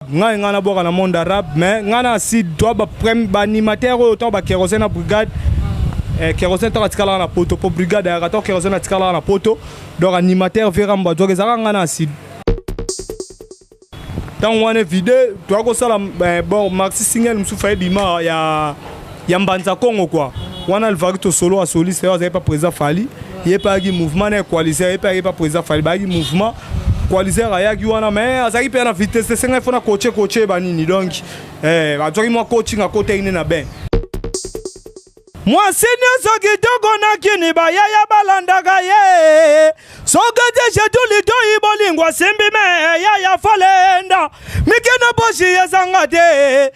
ngai ngai nabwaka na monde arabe mais ngai na sud to baanimateur oyo ntango bakerose na brigade eh, kerose ntango atikalaka na poto mpo brigade ayaka ntango kerose atikalaka na poto donc animateur veramba azwaka ezalaka ngai na sud ntango wana evide toya kosala eh, bon maxi single mosusu ayebima ya ya mbanza kongo kwa wana alivaki tosolo asoliste yo azali pa président fali ye mpe ayaki mouvement na ye coaliser ye mpe ayaki pa président fali bayaki mouvement coaliser ayaki wana mais azalaki mpe na vitesse esengai fona coache coache yeba nini donc eh, azwaki mwa coaching akotaki nde na bain mwasi nyonso kitoko na kini bayaya balandaka ye soki tishetu litoi bolingo asimbi me yaya falenda mike na poshi ezanga te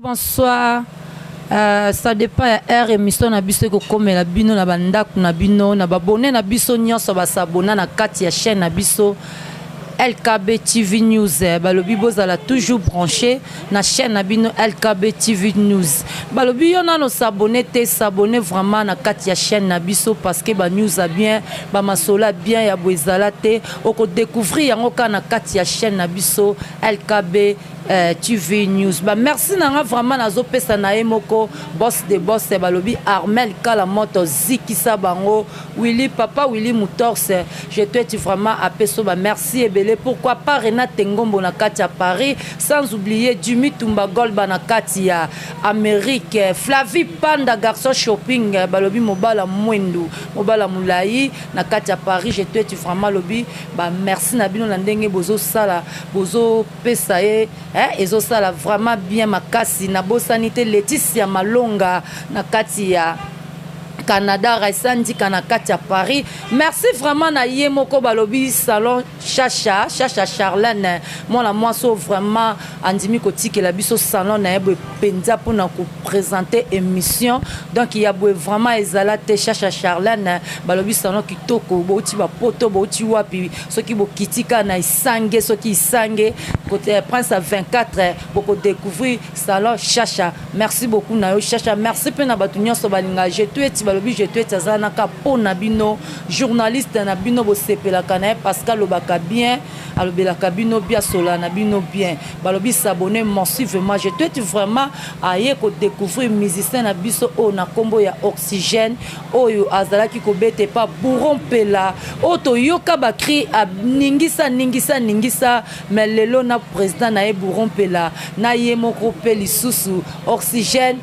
bonsoir Euh, ça dépend ya heure émission na biso ekokomela bino na bandako na bino na babone na biso nyonso basabona na kati ya chaîne na biso LKB TV News eh, balobi bozala toujours branché na chaîne na bino LKB TV News. Balobi yo nano s'abonner te s'abonner vraiment na kati ya chaîne na biso parce que ba news a bien, ba masola bien ya boezala te oko découvrir yango ka na kati ya chaîne na biso LKB eh, TV News. Ba merci na nga vraiment nazo pesa na ye moko boss de boss eh, balobi Armel Kala moto zikisa bango Willy papa Willy Mutorse je t'aime vraiment à Pesoba merci ebele pourquoi pas Renate Ngombo na kati ya Paris sans oublier Jimmy Tumba Golba na kati ya Amérique Flavie Panda garçon shopping eh, balobi mobala mwendu mobala mulayi na kati ya Paris je t'aime vraiment lobi ba merci na bino na ndenge bozo sala bozo pesa ye eh, ezo sala vraiment bien makasi na bosani te Laetitia Malonga na kati ya Canada Raissa Ndika na kati ya Paris merci vraiment na ye moko balobi salon Chacha Chacha Charlène mwana mwasi oyo vraiment andimi kotikela biso salon na ye boye mpenza mpona kopresente émission donc ya boye vraiment ezala te Chacha Charlène balobi salon kitoko bouti bapoto bouti wapi soki bokitika na isange soki isange kote prince ya 24 bokodécouvrir Salon Shasha, merci beaucoup na yo Shasha, merci pe na batu nyonso balinga je tueti balobi je tueti aza na ka po na bino journaliste na bino bosepelaka na ye parce que alobaka bien alobelaka bino bien asola na bino bien balobi s'abonner massivement je tueti vraiment aye ko découvrir musicien na biso oyo na kombo ya oxygène oyo azalaki kobete pa bourron pela oyo toyoka ba cri aningisa ningisa ningisa mais lelo na president na ye bouro mpela na ye moko mpe lisusu oxygène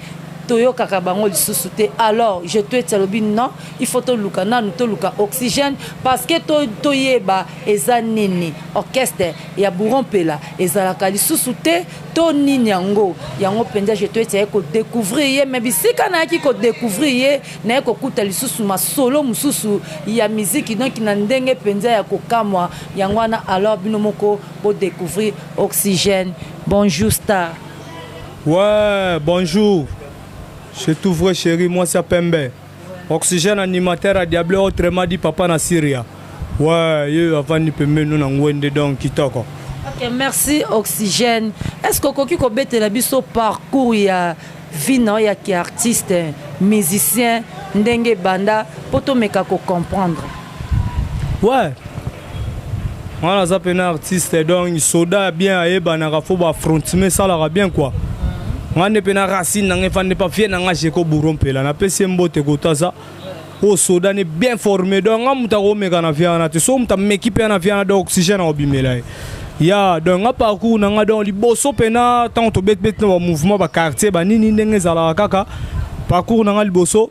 toyokaka bango lisusu te alors je tueti alobi non il faut toluka nanu toluka oxygène parce que toyeba to eza nini orchestre ya bouro mpela ezalaka lisusu te to nini yango yango mpenza je tueti aye kodécouvrir ye mais bisika nayaki kodécouvrir ye naye kokuta lisusu masolo mususu ya miziki donc na ndenge penza ya kokamwa yango wana alors bino moko bo decouvrir oxygène bonjour star ouais bonjour je tout vrai chéri moi ça pembe oxygène animateur à diable autrement dit papa na syria ouais yo avandi pembeni na ngwende donc kitoko Ok, merci Oxygène. Est-ce que okoki kobetela biso parcours ya Vie na yo ya ki artiste, musicien ndenge ebanda po to meka ko comprendre. Ouais nga naza pena artiste donc soda bien ayebanaka fo ba frontime esalaka bien kua nga nde pena racine nanga efandi mpa vie nanga jeko buro mpela napesi ye mbote kotaza oyo soda ne bien forme donc nga moto akomeka na via wana te so moto ameki mpe na via wana donc oxygène akobimela ye ya donc nga parcours na nga donc liboso mpena ntango tobetibeti na bamouvement baquartier banini ndenge ezalaka kaka parcours na nga liboso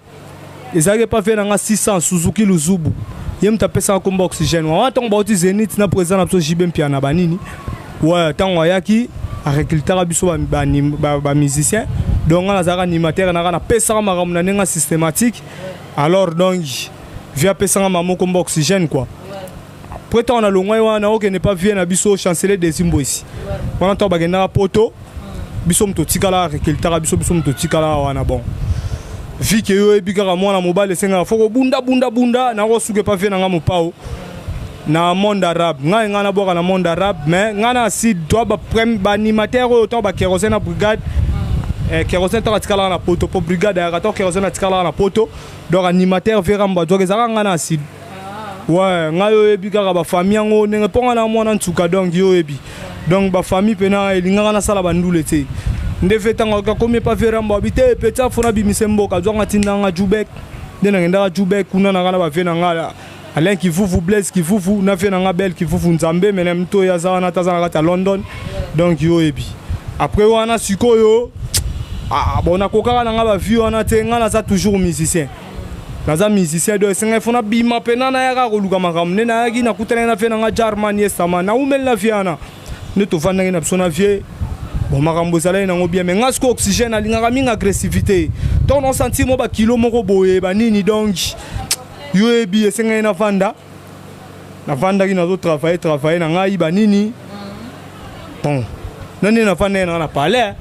ezalaki epa vie na nga 600 suzuki luzubu ye moto apesaka nkomba oxygène wana ntango bauti zenit na président na biso jb mpiana banini Ouais, tango ayaki a recrutaka biso ba ba, ba, ba musiciens. Donc nga nazalaka animateur naka na pesaka makambo na ndenge systématique. Alors donc via pesanga mama moko mba oxygène quoi. Après ntango na longwai wana okende mpa vie na biso chancelier desimboisi wana ntango bakendaka poto biso moto otikala recultaka biso biso moto otikala wana bon vi ke yo oyebi kaka mwana mobali esengaka fo kobunda bunda bunda nakosuka epa vie na ngai mopao na monde arabe ngai ngai nabwaka na monde arabe mais ngai na sud to baanimateur oyo to bakerosene na brigade eh, kerosene to atikalaka na poto mpo brigade ayaka to kerosene atikalaka na poto donc animateur vera mbadzoka ezalaka ngai na sud ouais ngai oyebi kaka bafamille yango ndenge mpo ngai na mwana nsuka donc yo oyebi donc bafamille mpena elingaka nasala bandule te nde ve ntango akomi epa veramba abi te peti afona abimise mboka azwanga tindanga jubek nde nangendaka jubek kuna nanga na bave na ngai alain kivuvu blaise kivuvu na ve na ngai bel kivuvu nzambe mene mto oyo aza wana taza na kati ya london donc yo oyebi après wana sikoyo ah, bon nakokaka na ngai bavie wana te ngai naza toujours musicien naza musicien do esengai fona bima mpena nayaka koluka makambo nde nayaki nakutanaki na vie na nga jarman yesama naumeli na vie wana nde tovandaki na biso na vie bon makambo ezalaki nango bien mais nga siko oxygène alingaka mingi agressivité donc naosentir mwa bakilo moko boye banini donc yo oyebi esengai navanda navandaki nazo travaille travaille na ngai banini bon nani navandaki nanga na palais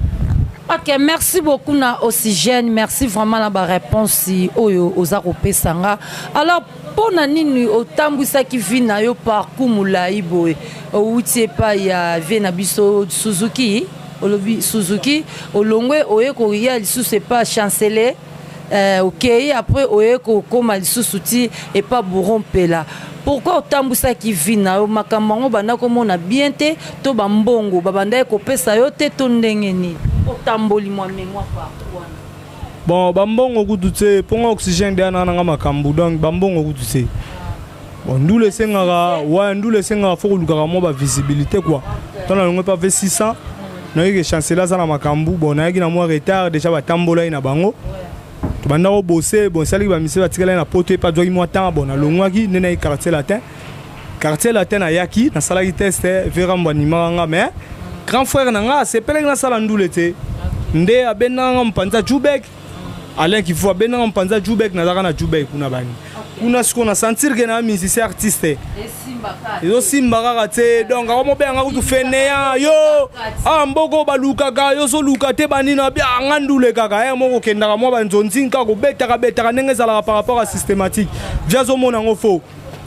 ok merci beaucoup na oxygène merci vraiment na baréponse oyo oza kopesa nga alors mpo na nini otambwisaki vi na yo parcours molai boye outi epai ya vie na biso suzuki olobi suzuki olongwe oye koya lisusu epai chancele eh, okei après oye kokoma lisusu ti epa bouro mpela pourkui otambwisaki vi na yo makambo yango obanda komona bien te to bambongo babandaki kopesa yo te to ndenge nini otamboli mwa memoire partout wana bon bambongo kutu te mpo nga oxygène deya na nanga makambo donc bambongo kutu te Bon, ndule esengaka wa ndule esengaka fo kolukaka mwa ba visibilité quoi ntango nalongo epa ve 600 nayoki ke chancela aza na makambo bon nayaki na mwa retard déjà batambola ye na bango tobanda kobose bon esalaki bamisele batikala ye na poto epa azwaki mwa temps bon nalongwaki nde naye quartier latin quartier latin nayaki nasalaki test verambo animaka nga mais grand frère na nga asepelaki nasala ndule te nde abendaka nga mopanza jubek Alain Kifu abendanga mpanza Jubek nazalaka na Jubek kuna bani kuna sikoyo na sentir ke na musicien artiste ezosimba kaka te donc akomobeyanga kutu feneya yo a ah, mboko balukaka yo ozoluka te banina bia ah, nga ndule kaka e moko okendaka mwa banzonzin kaka kobetaka betaka ndenge ezalaka par rapport ya systématique via azomona yango fo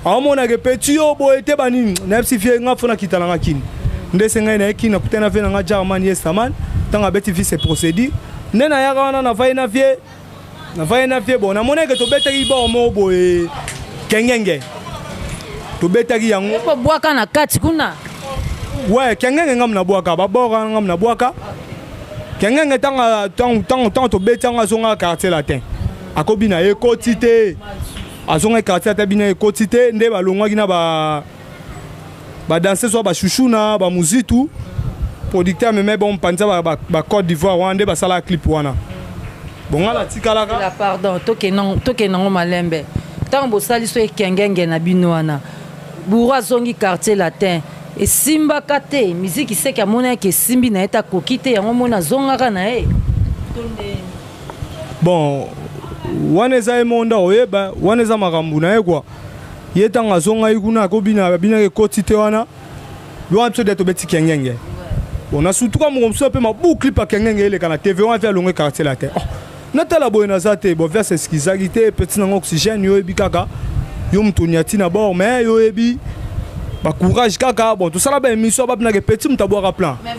aomona ke petit yo boye te banini nayebisi vie nga fona kita na nga kini nde se ngai naye kini nakuta na vie na nga jarman yestaman ntango abeti vie se procédure nde nayaka wana navai na vie navai na vie bon namoneke tobetaki bao moko boye kengenge tobetaki yango bwaka na kati kuna we kengenge ngam na bwaka babwaka ngam na bwaka kengenge ntango tobeti yango azongaka quartier latin akobina ekoti te azongaki quartier ata bino ekoti te nde balongwaki na ba badanse soit bashushuna bamuzitu producteur amemai bango mpanza bacode d'ivoire wana nde basalaka clip wana bonga natikalaka pardon tokende yango malembe ntango bosali so ekengenge na bino wana bouro azongi quartier latin esimbaka te miziki seke amonaki esimbi na ye te akoki te yango mona azongaka na ye bon wana eza ye moko nde akoyeba wana eza makambo na ye kua ye ntango azongaki kuna akobina abinaki ekoti te wana wana biso de tobeti kengenge bon na sutuka moko mosusu mpe mabukli pa kengenge eleka na tv wana mpe alongo ekartie la te oh, natala boye naza te bon verse eskizaki te peti nango oxygène yo oyebi kaka yo moto onyati na bord mais yo oyebi bacourage kaka bon tosala baémission babinaka epeti moto abwaka plan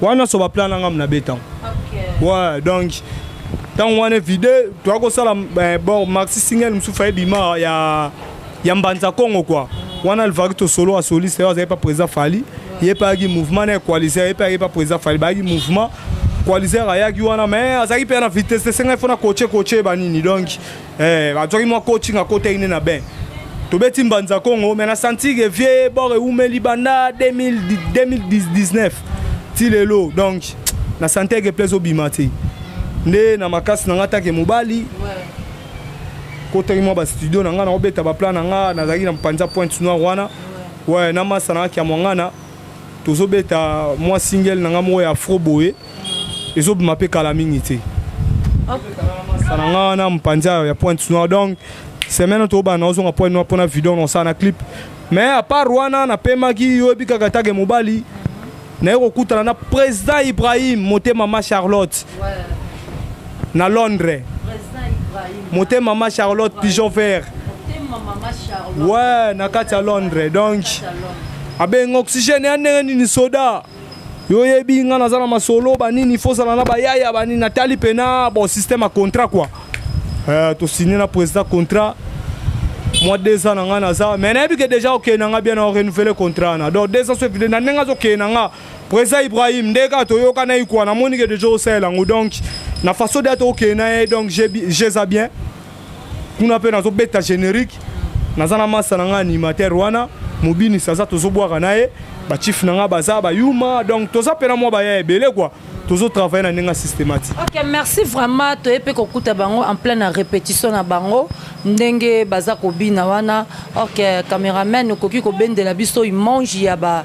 wana so baplan na ngai nabe ntango wa donc ntango wana evide toya kosala eh, bon maxi single mosusu faye bima ya, ya mbanza congo kua wana alvaki tosolo asoliste yo azalaki pa président fali ye mpe ayaki mouvement na equaliser ye mpe ayaki pa président fali bayaki mouvement coaliser ayaki wana mais azalaki mpe na vitesse te sengai fona coache coache banini donc Eh, azwaki mwa coaching akotaki nde na bain tobeti mbanza congo me na santike vie bor ewumeli banda 2019 ti lelo donc na santeke place obima te nde na makasi na ngai atake mobali kotaki mwa bastudio na ngai nakobeta baplan na ngai nazalaki na mpanza pointe noire wana we na masa na ngai kiamwangana tozobeta mwa single na nga moko ya afro boye ezobima mpe kala mingi te na nga wana mpanza ya pointe noire donc semaine oyo tobana ozonga pointe noire mpona video nosala na clip mais apart wana napemaki oyebi kaka take mobali naye kokutana na président ibrahim motema ma charlotte ouais. na londres mote mama charlotte pigeon vert we na kati ya londres donc abenga oxygène ya ndenge nini soda yo oyebi ngai naza na masolo banini fozala na bayaya banini natali mpena bon système ya contrat kua uh, eh, tosigne na président contrat mwa deux ans na ngai naza mai nayebi ke déjà okei na ngai bien na orenouvele contrat na donc deux ans so evide na ndenge azokei na ngai Presa Ibrahim nde kaka toyokanaki kwa namoni ke deja osalela yango donc na façon date okende na ye donc jeza bien kuna mpe nazobeta générique naza na masa na ngai animateur wana mobinisi aza tozobwaka na ye bachief na ngai baza bayuma donc toza mpe na mwa baya ebele kua tozotravaille na ndenge systématique ok merci vraiment toye mpe kokuta bango en pleine répétition na bango ndenge baza kobina wana ok cameraman okoki kobendela biso image ya ba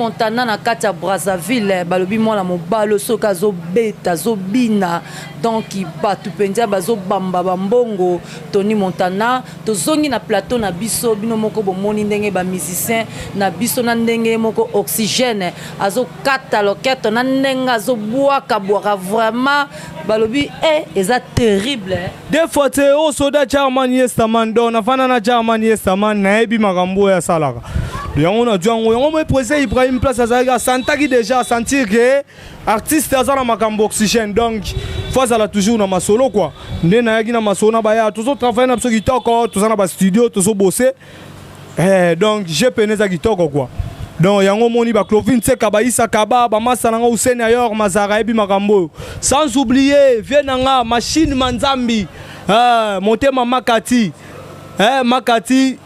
montana na kati ya brazzaville eh, balobi mwana mobalo soki azobeta azobina donc bato mpenza bazobamba bambongo tony montana tozongi na plateau na biso bino moko bomoni ndenge bamusicien na biso na ndenge moko oxygène azo kata loketo na ndenge azobwaka bwaka vraiment balobi e eh, eza terrible eh. de fois te o oh, soda charman yestaman don nafanda na charman yestaman nayebi makambo oyo asalaka yango nazwi yango yango moi président ibrahim place azalaki asantaki déjà asentir ke artiste aza na makambo oxygène donc fo azala toujours na masolo kua nde nayaki na masolo na baya tozotravaille na biso kitoko toza na bastudio tozobose Eh, donc je pene eza kitoko quoi donc yango omoni ba clovine seka baisa kaba bamasa na nga useni ayor mazara ayebi makambo oyo sans oublier vie na nga machine manzambi eh, motema makati eh, makati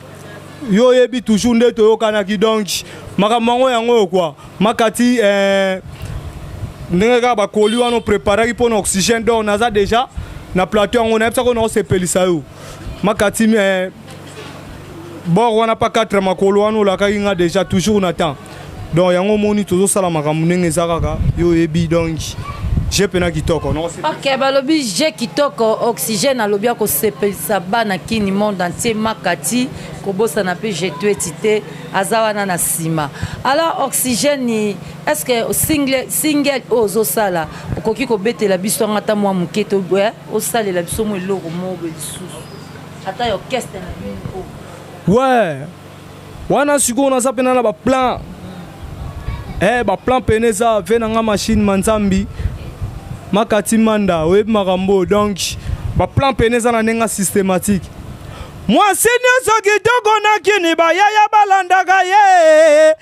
yo oyebi toujours nde toyokanaki donc makambo yango yango oyo kua makati eh, ndenge kaka bakoli wana opreparaki mpo na oxygène donc naza déjà na plateau yango nayebisaki oyo naosepelisa yo makati me eh, bor wana pa 4 makolo wana olakaki nga déjà toujours na temps donc yango omoni tozosala makambo ndenge eza kaka yo oyebi donc je pena kitoko ok balobi je kitoko oxygène alobi akosepelisa bana kini monde entier makati kobosana mpe jetueti te aza wana na nsima alors oxygène est ce que single, single oyo ozosala okoki kobetela biso yanga ata mwa moke to eh? osalela biso mo eloko moko lisusu ata ya orchestre na bino we wana sikoyo naza mpena na baplan e baplan mpena eza ve na nga mashine manzambi makati manda oyebi makambo oyo donk baplan mpena eza na ndenge systématique mwasi nyonso kitoko na kini bayaya balandaka ye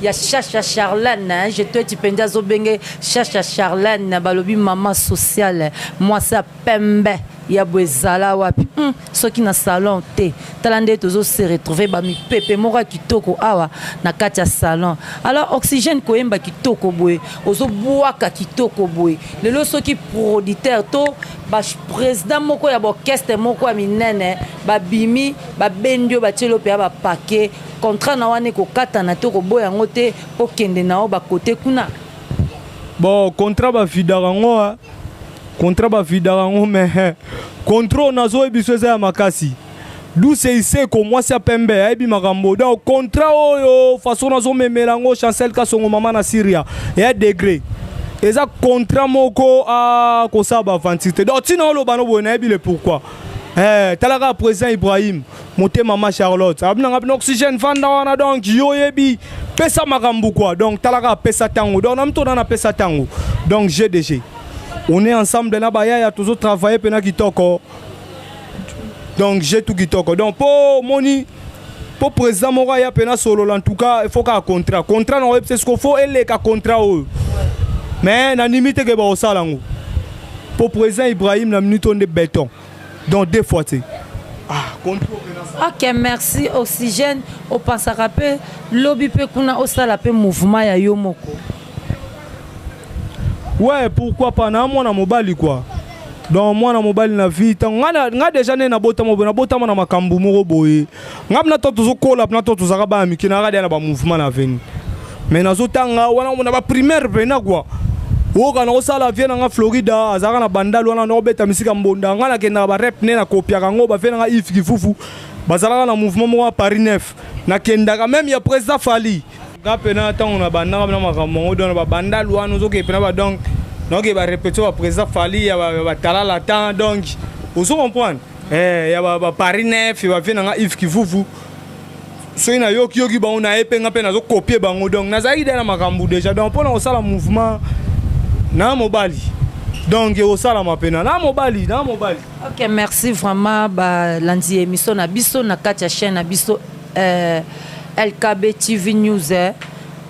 ya shasha charlane hein, je tueti mpenza azobenge shasha charlane balobi mama sociale mwasi ya pembe ya boye ezala wapi hmm, soki na salon te tala nde tozo se retrouver bamipepe moko ya kitoko awa na kati ya salon alors oxygène koyemba kitoko boye ozobwaka kitoko boye lelo soki producteur to baprésident moko ya baorchestre moko ya minene babimi babendi oyo batieli oyo mpenza bapake Contrat na wana ekokatana te okoboya yango te okende na yo bakote kuna bon contrat bavidaka yango ah. contrat bavidaka yango me eh. contrat oyo nazoyebi biso eza ya makasi duse iseko mwasi ya pembe ayebi makambo donc contrat oyo façon nazomemela yango chancel kasongo mama na syria eya degre eza contrat moko akosala ah, baventure te donc ntina oloba no boye nayebi le pourquoi Eh, talaka président Ibrahim motema ma charlotte abi nanga bino oxygène vanda wana donc yo oyebi pesa makambo kua donc talaka apesa ntango donc na mitona napesa ntango donc gdg on est ensemble na bayaya tozo travaille mpena kitoko donc je tout kitoko donc mpo omoni mpo président moko aya mpena solola en tout cas il faut kaka contrat contrat nango yebisa siko fo eleka contrat oyo mais nandimi te ke bakosala yango mpo président ibrahim na minute oyo nde beton donc deux fois te ah, ok merci oxygène opansaka mpe lobi mpe kuna osala mpe mouvement ya yo moko ouais pourquoi pas na mwana mobali quoi donc mwana mobali na vie ntango ngai deja nde nabotama boye nabotama na makambo moko boye nga bina to tozokola bina to tozalaka bana mike nayaka deya na bamouvement na veni mais nazotanga wana omona baprimaire pena kua oyoka nakosala vie na nga florida azalaka na bandal wana nakobeta misika mbonda nga nakendaka barep ne nakopiaka yango bavie na nga ive kifufu bazalaka na mouvement moko ya paris nef nakendaka meme ya président fali nga pena ntango na bandaka na makambo yango dona babandal wana ozokee pena ba donc naokee barepetio ba président fali ya batalala temps donc ozo comprendre Eh, ya ba, ba Paris 9 ba vie na nga Yves Kivuvu soki nayoki yoki bango na ye mpe nga mpe nazokopie bango donc nazalaki dai na makambo déjà donc mpo na kosala mouvement na mobali donc ekosalama mpena na mobali na mobali ok merci vraiment balandi ya émission na biso na kati ya chaîne na biso euh, lkb tv news eh.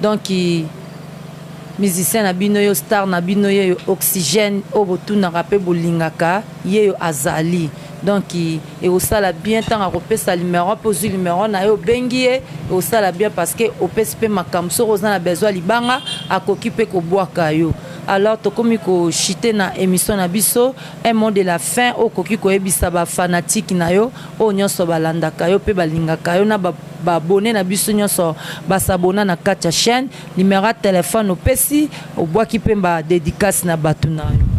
donc musicien na bino yo star na bino yo oxygène oyo botunaka mpe bolingaka yeyo azali donc ekosala bien ntango akopesa numero mpe ozwi numero na ye obengi ye ekosala bien parce que opesi mpe makambo soki oza na besoin ya libanga akoki mpe kobwaka yo alors tokomi kochite na émission na biso un mot de la fin oyo okoki koyebisa bafanatike na yo oyo nyonso balandaka yo mpe balingaka yo na babone na biso nyonso basabona na kati ya chaîne Numero ya telephone opesi obwaki pe ba dedicace na batu na yo.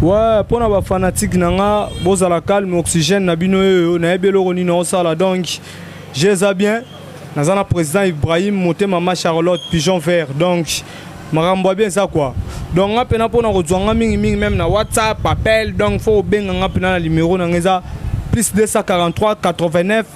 Ouais, pona ba fanatique na nga bozala calme oxygène na bino yoyo nayebi eloko nini osala donc je eza bien naza na président Ibrahim motema ma Charlotte pigeon vert donc makambo ya bien eza quoi donc nga pena pona kozwa nga mingi mingi meme na WhatsApp appel donc faut obenga nga pena na numero na nga eza plus 243 89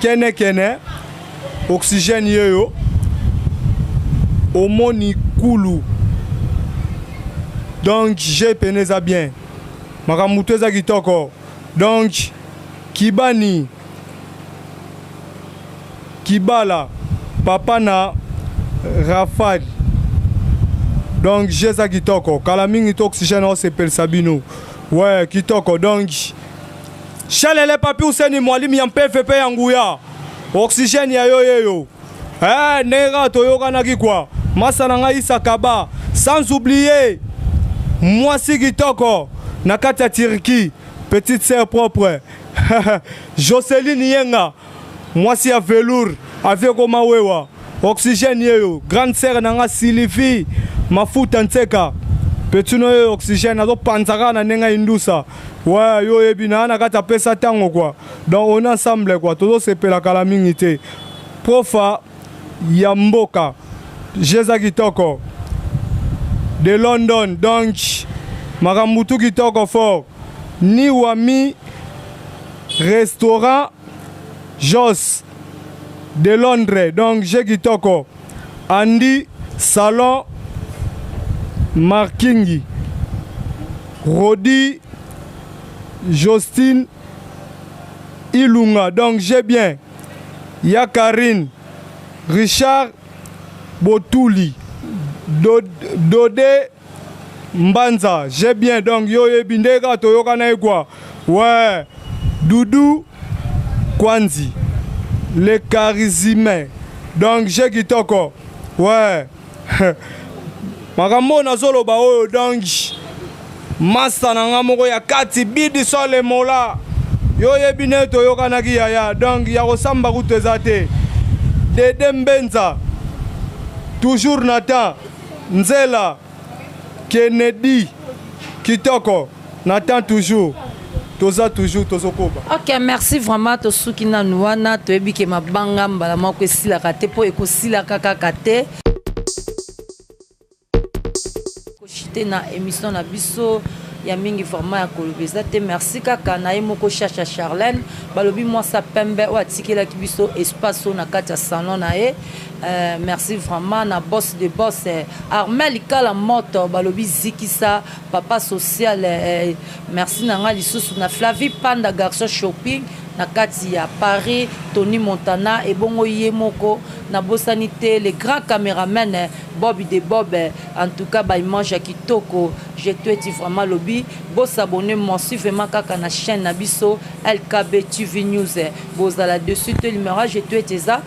kene kene oxygène yeyo omoni kulu donc je pene eza bien makambo motu eza kitoko donc kibani kibala papa na rafal donc je eza kitoko kala mingi to oxygène osepelisa bino we kitoko donc Shalele papi useni mwalimu ya mpvp ya nguya oxygène ya yo yeyo eh, ndenge kaka toyokanaki kwa masa na ngai isakaba sans oublier mwasi kitoko na kati ya Turquie petite sœur propre Jocelyn Yenga Mwasi ya velour avi ekoma wewa oxygène yeyo grande sœur na nga Sylvie mafuta nseka petino yeyo oxygène azopanza kaka na ndenge indusa wa yo oyebi na na kati apesa ntango kwa donc on ensemble kwa tozosepela kala mingi te profa ya mboka jeza kitoko de london donc makambo tu kitoko fort ni wami restaurant jos de londres donc je kitoko andy salon markingi rodi jostine ilunga donc je bien ya karine richard botuli dode, dode Mbanza j'ai bien donc yo oyebi nde kaka toyokana ye kwa ouais Doudou Kwanzi le charisme donc j'ai kitoko ouais makambo oyo nazoloba oyo donc masta na nga moko ya kati bidi sole mola yo oyebi nde toyokanaki yaya donc ya kosamba kutu eza te dede mbenza toujours na temps Nzela Kennedy kitoko na temps toujours toza toujours tozokoba. Ok merci vraiment tosuki nanu wana toyebi ke mabanga mbala moko esilaka te mpo ekosilaka kaka te. Koshite na emission na biso ya mingi vraiment ya koloba eza te merci kaka na ye moko shasha charlene balobi mwasi ya pembe oyo atikelaki biso espace oyo na kati ya salon na ye Eh, merci vraiment na boss de boss eh, Armel Kala Moto balobi zikisa papa social eh, eh merci na nga lisusu na Flavie Panda garçon shopping na kati ya Paris Tony Montana ebongo ye moko na bosani te le grand cameraman eh, Bob de Bob eh, en tout cas ba image ya kitoko je tweeti vraiment lobi bo s'abonner moi suivement kaka na chaîne na biso LKB TV News eh, bozala dessus to limera je tweeti eza